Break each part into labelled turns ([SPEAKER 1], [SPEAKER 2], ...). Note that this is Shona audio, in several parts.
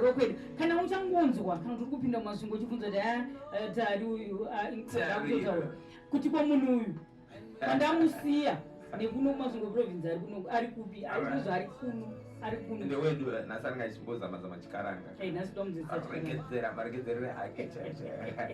[SPEAKER 1] Rokwedi, kana uchangonzwa kana kuti kupinda mumasvingo uchibvunza kuti haa ah, eh, tari uyu ah, akutotaura kuti kwa munhu uyu pandamusiya nekuno kumasvingo province ari kuno ari kupi ari kuzva ari kuno ari kuno ndewedu
[SPEAKER 2] nhasi anenge achimbozama zama chikaranga eh, nhasi tomudzidzira marekedzerere ake chaizvo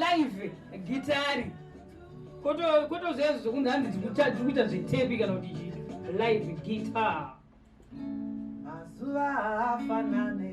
[SPEAKER 2] live
[SPEAKER 1] gitari kotozvaizo zvokunzi hanzi tikuita zvetepi kana kuti chii live guitar mazuva
[SPEAKER 3] afanane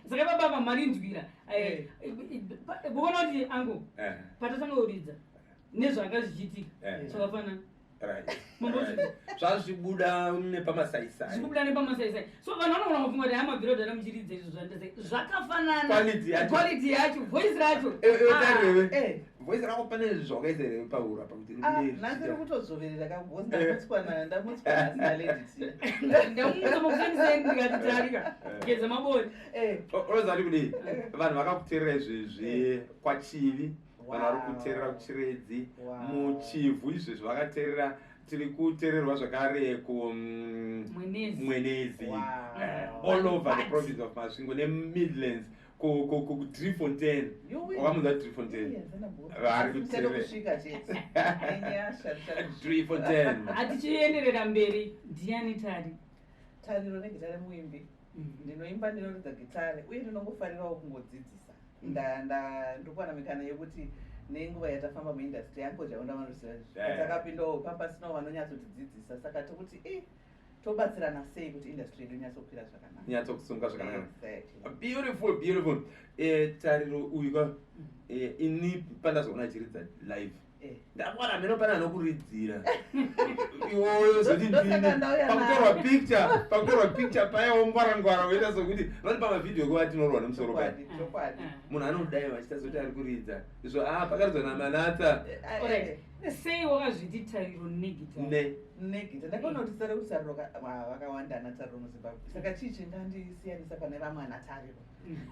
[SPEAKER 1] saka baba apa marinzwira eh, eh. kuona kuti angu eh. patatanga kuridza nezvanga zvichiitika zvakafanana
[SPEAKER 2] zvazvibuda nepamasaisaibuda nepamasaisai
[SPEAKER 1] so vanhu vanogona kufunga kuti hamabviro dana muchiridza izvo zvandese zvakafanana quality yacho voice racho ah,
[SPEAKER 2] voice rako pane zvawakaisa here paura pakuti ah, nhasi ri
[SPEAKER 3] kutodzoverera ka bcause
[SPEAKER 1] ndamutswa na ndamutswa nhasi naleditindamutsamakuenisendikatitarika eh. geza mabori eh. unoziva ndi
[SPEAKER 2] kudii eh. vanhu vakakuterera izvezvi kwachivi vanhu vari kuterera kuchiredzi muchivhu izvezvi vakaterera tiri kutererwa zvakare kumwenezi mm, all over the province of masvingo nemidlands kudrifontain wakamudza drifontain vari kudrifontain hatichienderera
[SPEAKER 1] mberi ndiani tari tari
[SPEAKER 3] ronegitare muimbi mm. ndinoimba ndinoridza gitare uye ndinongofarirawo kungodzidzisa ndikuwana mikana yekuti nenguva yatafamba muindastry yangu zvaonda vanoziva izvi takapindawo papasinawo vanonyatsotidzidzisa saka tokuti e eh, tobatsirana sei kuti industry yedu inyatsokwira zvakanaka
[SPEAKER 2] inyatsokusunga zvakanaka beautiful beautiful eh, tariro uyu ka mm. eh, ini pandazoona chiridza live eh. ndakwana mheno pane anokuridzira iwoyo zoti ndipakutorwa picture pakutorwa picture paya wongwarangwara woita sokuti vati pamavhidhiyo kuva tinorwa nemusoro pai munhu anodai vachita zoti ari kuridza izvo a ah, pakaridzwa namanatsa
[SPEAKER 1] sei wakazviti tariro negita negita ndakaona kuti
[SPEAKER 3] sare kuti tariro vakawanda ana tariro muzimbabwe saka chii chingandisiyanisa pane vamwe ana tariro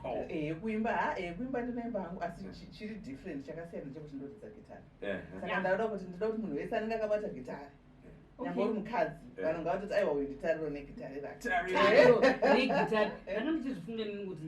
[SPEAKER 3] oh. eh, yekuimba ha eh, yekuimba ndinoimba hangu asi chiri different chakasiyana chekuti ndoridza gitari saka ndauda kuti ndida kuti munhu wese anenge akabata gitari nyangwe uri mukadzi vanhu ngavatoti aiwa uyu nditariro negitari rakeregitari
[SPEAKER 1] ndanga ndichizvifunga nini kuti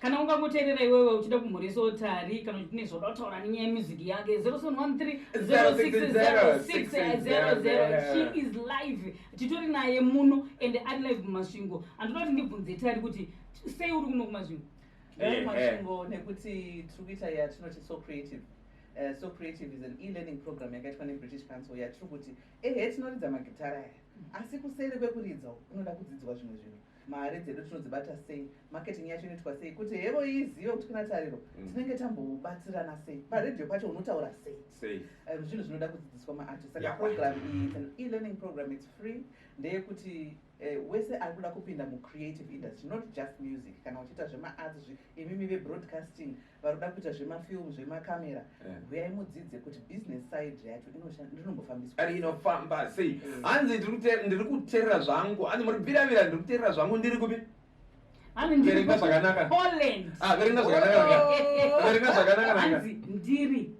[SPEAKER 2] kana ungangoterera iwewe uchida
[SPEAKER 1] kumhurisawo tari kana kuti ne zvoda kutaura nenyaya yemuziki yake 0713060600 she is live titori naye muno and ari live mumasvingo andoda kuti ndibvunze tari kuti sei uri kuno kumasvingo eh, eh. masvingo
[SPEAKER 3] nekuti tiri kuita yatinoti so creative Uh, so creative is an e-learning program yakaitwa nebritish council yatiri kuti ehe tinoridza magitara aya mm. asi kuseri kwekuridza unoda kudzidzwa zvimwe zvinhu mari dzedu tinodzibata sei marketing yacho inoitwa sei kuti hevo izive kuti kuna tariro mm. tinenge tambobatsirana sei paredhiyo pacho unotaura sei eh, zvinhu zvinoda kudzidziswa maartist saka program iyi it's an elearning program it's free ndeyekuti eh, wese ari kuda kupinda mucreative industry not just music kana uchiita zvemaarts imimi vebroadcasting varikuda kuita zvemafilm zvemacamera eh. huyai mudzidze kuti business side yacho inombofambiswainofamba sei
[SPEAKER 2] eh. hanzi ndiri kuterera zvangu hanzi muri biravira ndiri kuterera zvangu ndiri kupi verenga zvakanaka ah, verenga
[SPEAKER 1] zvakanaka
[SPEAKER 2] verenga zvakanaka ndiri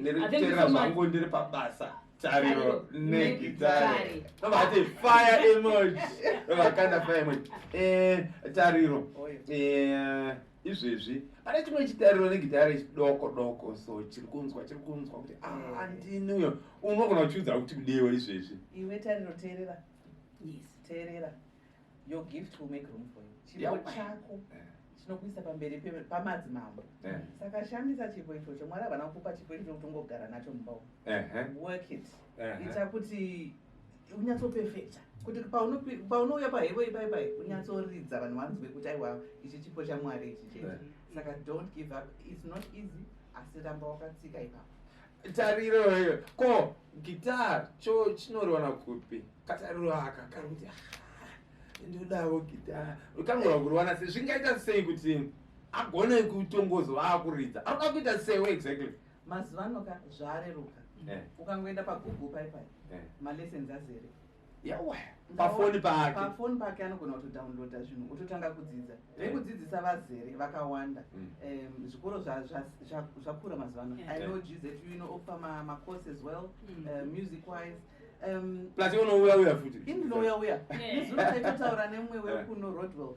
[SPEAKER 1] ndirikuterera zvangu
[SPEAKER 2] ndiri pabasa tariro negitare vati fire emoji vakanda fire emoji eh, tariro eh, izvezvi pane chimwe chitariro negitare chidoko doko so chiri kunzwa chiri kunzwa kuti ah, andini uyo unogona kuchiudza kuti kudewo izvezvi iwe tariro
[SPEAKER 3] teerera yes teerera your gift will make room for you chipo chako eh. chinokuisa pamberi pamadzimambo eh. saka shandisa chipo ichocho mwari havana kukupa chipo ichocho kuti ungogara nacho mumba work it ita kuti unyatsopefekta kuti paunouya pahevo ipai pai unyatsoridza vanhu vanzwe kuti aiwa ichi chipo chamwari ichi chete saka don't give up its not easy asi ramba wakatsika ipapo tariro iyo
[SPEAKER 2] ko guitar cho chinoriwana kupi katariro aka kari kuti ndodavo guitar kanogona kuriwana sei zvingaita sei kuti agone kutongozo vaakuridza anoda kuita seiwo exactly mazuva anoka
[SPEAKER 3] zvaareruka eh. ukangoenda pagoogle paipai eh. malessons azere yawa
[SPEAKER 2] pafoni pake pafoni pake
[SPEAKER 3] anogona kutodownloada zvinhu ototanga kudzidza vekudzidzisa eh. vazere vakawanda mm. zvikoro zvakura mazuva ano i know gz you know ofa macourse as well mm. eh, music wise Um, plus
[SPEAKER 2] unouya uya futi inouya uya
[SPEAKER 3] nezuro taitotaura nemumwe wekuno rodwell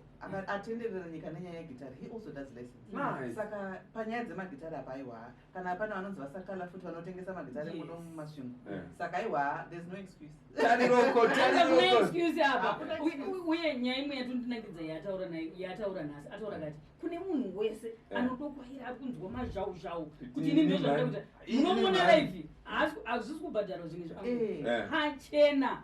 [SPEAKER 3] atenderera nyika nenyaya yegitari he also does lessons saka
[SPEAKER 2] panyaya
[SPEAKER 3] dzemagitari apa aiwa kana hapana vanonzi vasakala futi vanotengesa magitare muno mumasvingo eh. saka aiwa
[SPEAKER 1] there's no excuse uye nyaya imwe yatondinakidza yataura nayo yataura nhasi ataura kati kune munhu wese eh. anotokwaira ari kunzwa mazhau zhau kuti ini ndozvaakuita munomona live hazvisi kubhadharwa zvimwe zvaangu eh. hachena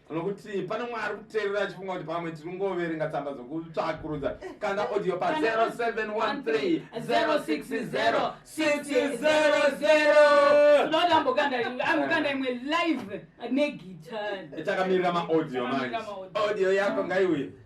[SPEAKER 2] nokuti pane umwe ari kuteerera achifunga kuti pamwe tiri kungoverenga tsamba dzokutsvakurudza kanda audio pa 0713060600 imwe live
[SPEAKER 1] negitari takamirira
[SPEAKER 2] maaudio manje audio yako ngaiuye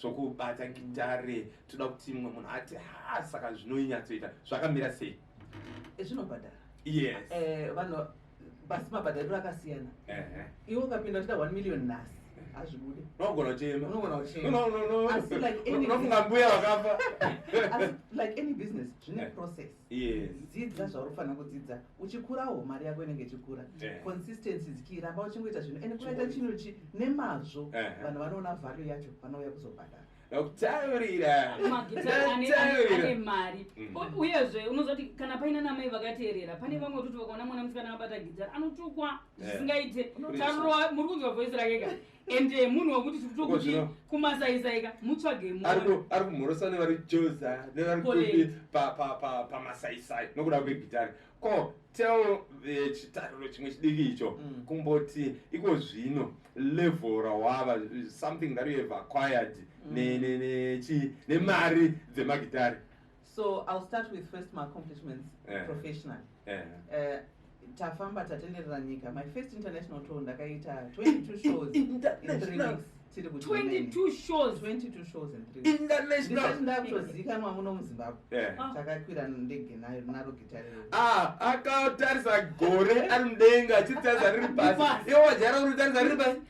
[SPEAKER 2] zvokubata gitare toda kuti mumwe munhu ati ha saka zvinoinyatsoita zvakamira sei Eh, zvinobhadhara
[SPEAKER 3] yes Eh,
[SPEAKER 2] vanhu
[SPEAKER 3] basi mabhadhariro akasiyana Ehe. iwe ukapinda uchida 1 million nhasi hazvibude unogona kuchema
[SPEAKER 2] unogona kuchema No, no, no.
[SPEAKER 3] Asi like any- unofunga mbuya vakafa
[SPEAKER 2] Asi
[SPEAKER 3] like any business zvine Eh. process dzidza
[SPEAKER 2] zvauri kufanira
[SPEAKER 3] kudzidza uchikurawo mari yako inenge ichikura consistency dzichiramba uchingoita zvinhu and kunoita chinhu chi nemazvo vanhu vanoona value yacho vanouya kuzobhadhara kutaurira
[SPEAKER 2] ane
[SPEAKER 1] mari mm. uyezve unozoti kana paina namai vakateerera pane vamwe vekuti vakaona mwana musikana abata gidhara anotukwa zvisingaite taroa muri kunzwa voice rake ka and eh, munhu wekuti tikutokuti kumasaisaika mutsvage munhu ari kumhorosa
[SPEAKER 2] nevari joza nevari kuti pamasaisai nokuda kwegitari ko tell eh, chitariro chimwe chidiki icho mm. kumboti iko zvino level rawava something that you have acquired mm. nemari dzemagitari so i'll
[SPEAKER 3] start with first my accomplishments yeah. professionally yeah. uh, tafamba tatenderera nyika my first international tour ndakaita 22
[SPEAKER 1] shows in three weeks
[SPEAKER 3] tiri kuinternationalndakutozikanwa
[SPEAKER 2] muno
[SPEAKER 3] muzimbabwe takakwira ndege nayo naro gitariakatarisa
[SPEAKER 2] gore ari mudenga achiritarisa riri pasi iwo wajara uritarisa riri pasi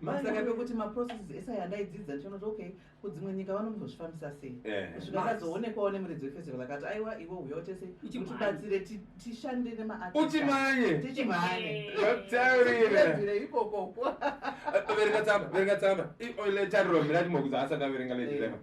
[SPEAKER 3] masaka pekuti maprocesses ese aya ndaidzidza ndichionoti okay kudzimwe nyika vanombozvifambisa sei eh. kusvika akazoonekwawo nemuridzi wefestival akati aiwa iwe uya utese utibatsire tishande nemaartiutimanyeutimanyeutirire
[SPEAKER 2] ikokoko
[SPEAKER 3] verenga tsamba
[SPEAKER 2] verenga tsamba letariro miratimokudza asati averenga letirema eh.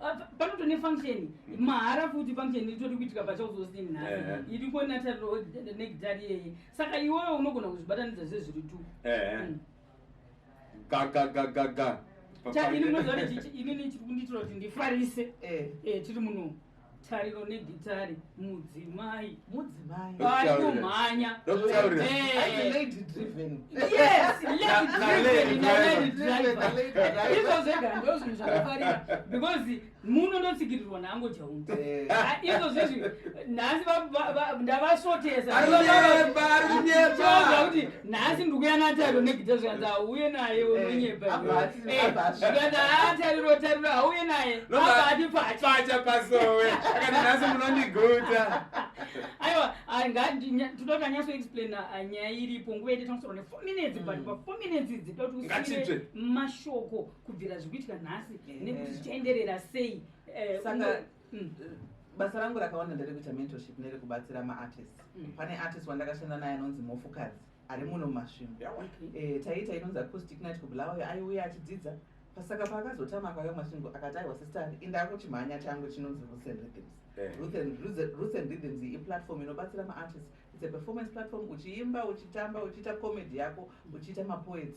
[SPEAKER 1] Ah, panoto nefunction mahara futi function itori kuitika pachauzosini nhasi eh, eh. iri konatariro negitari yeye saka iwewe unogona kuzvibatanidza zve zviri tu eh, mm.
[SPEAKER 2] gagagagaga ini
[SPEAKER 1] munoziva kuti inini chiri kundiitira kuti ndifarise tiri muno tariro negitare mudzimai mudzimai vainomhanya izvo
[SPEAKER 3] zvega
[SPEAKER 1] ndo zvinhu zvakafarira because muno ndotsigirirwa nango jaunzi eh. ah, izvo zvizvi nhasi ndavasvotesa nhasi ndikuya natariro negita zvikanzi hauye naye unonyebaati atariro tariro hauye naye abaati pacha pasowe akati
[SPEAKER 2] nhasi munondiguta
[SPEAKER 1] aiwa tinoda nyaso explain ah, nyaya iripo nguva yete tanosoro ne four minutes but mm. pa four minutes idzi toda kuti usire mashoko kubvira zvikuitika nhasi nekuti zvichaenderera sei eh,
[SPEAKER 3] Mm, eh, basa rangu rakawanda nderekuita mentorship nerekubatsira maartist mm. pane artist wandakashanda naye anonzi mhofukadzi ari muno mumasvimo eh, taiita inonzi acoustic night kubulawayo aiuya achidzidza pasaka paakazotama akauya masvingo akati aiwa sistar indako chimhanya changu chinonzi roots and rhythms eh. roots and rhythms iplatform inobatsira maartist its a performance platform uchiimba uchitamba uchiita comedy yako uchiita mapoets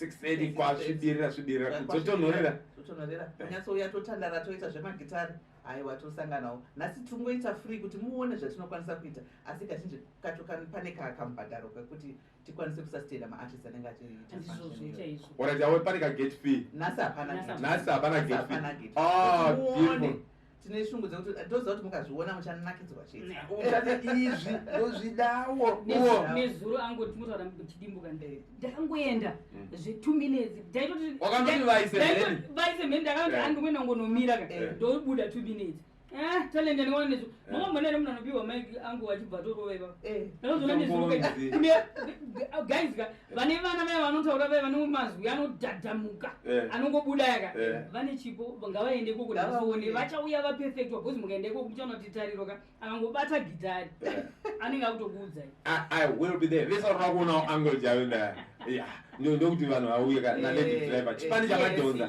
[SPEAKER 3] 630
[SPEAKER 2] kwasvibirira svibirira kudzotonhorera totonhorera kunyatsouya
[SPEAKER 3] totandara toita zvemagitare aiwa tosanganawo nhasi tiri kungoita free kuti muone zvatinokwanisa kuita asi kazhinji kacho pane kakamubhadharo kekuti tikwanise kusastaina maartist anenge achiitaoratiawe pane
[SPEAKER 2] kagate fee nhasi hapana
[SPEAKER 3] nhasi hapana
[SPEAKER 2] gate fee ah,
[SPEAKER 3] tine shungu dzekuti ndoziva kuti mukazviona muchanakidzwa chete uchati izvi
[SPEAKER 2] ndozvidawo nezuro
[SPEAKER 1] angoti motaura chidimbuka ndee ndakangoenda mm. zvetu minutes
[SPEAKER 2] ndaitotivaise mheni
[SPEAKER 1] ndakati eh. andomwe nangonomira ka eh. ndobuda two minutes eh, talende ndinoona nezvo eh. makambonaere munhu anopihwa maiki angu achibva torovaivavo ndakazoona nezuro guys ka vane vana vaya vanotaura vaya vane mazwi anodhadhamuka eh. anongobuda yaka eh. vane chipo ngavaende koko ndavaone vachauya vapefektwa bcause mukaenda ikoko muchaona kuti tariro ka akangobata gitari eh. anenge akutokuudzai vese
[SPEAKER 2] vari vakuonawo angle jayo nda ndokuti vanhu vauye ka nalady driver chipani chamadhonza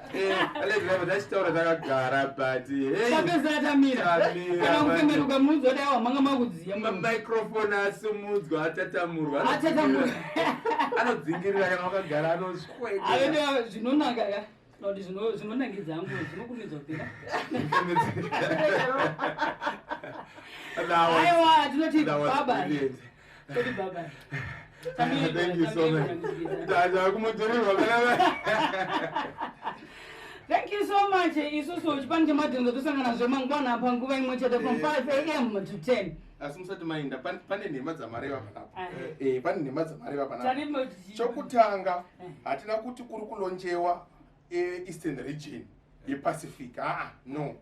[SPEAKER 2] tachitaura takagara butapezatamirakufemberuka munhu zoti awa manga makudziya mamicrofone asumudzwa atatamurwa anodzingirira kana wakagara anosweka zvinonaka ka
[SPEAKER 1] kuti zvinonakidza angu zvinokumidzwa kupera aiwa tinoti baba
[SPEAKER 2] Thank you so much. Dada kumudhururwa kana
[SPEAKER 1] Thank you so much. Isusu chipani chemadhinza tosangana zve mangwana apa nguva imwe chete from 5 am to 10. Asi musati mainda
[SPEAKER 4] pane nhema dzamareva panapa. Eh pane nhema dzamareva panapa. Chokutanga hatina kuti kuri kulonjewa eastern region yePacific. Ah no.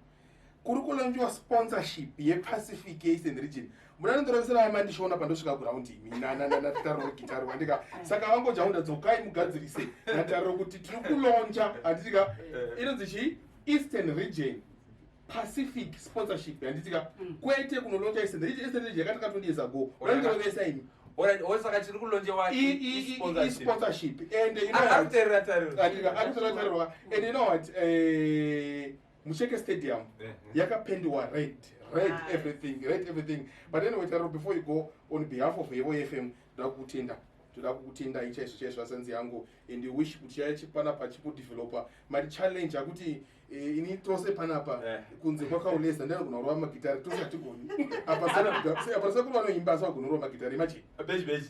[SPEAKER 4] kuri kulonjiwa sponsorship yepacific eastern region muna ndondoravisira vaya mandishoona pandosvika ground imi natariro gitari wandika saka vangojaunda dzokai mugadzirise natariro kuti tiri kulonja handitika eh. inonzi chii eastern region pacific sponsorship handitika mm. kwete kunolonja eastern region eastern region yakati katoni years ago vanondorovesa imi
[SPEAKER 2] osaka chiri kulonjewa sponsorship
[SPEAKER 4] and you
[SPEAKER 2] know what, and
[SPEAKER 4] you know what, uh, Musheke Stadium uh-huh. yakapendiwa red red nice. everything red everything but anyway Taro before you go on behalf of Evo FM ndoda kukutenda ndoda kukutenda ichaizvo chaizvo asanzi yangu and wish kuti chaya chipana pachipo developer mari challenge akuti eh, ini tose panapa eh. kunze kwakauleza ndanogona kurova magitari tose hatigoni apa sana apa sana kuva noimba asagona kurova magitari imagine beji beji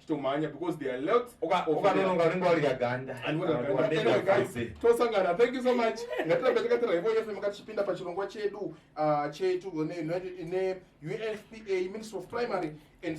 [SPEAKER 4] chitomhanya because there are lots ukanononga unenge
[SPEAKER 2] warya ganda
[SPEAKER 4] tosangana thank you so much ngatirambe takatira ivo yefe makatichipinda pachirongwa chedu ah, chetu ne unfpa ministry of primary and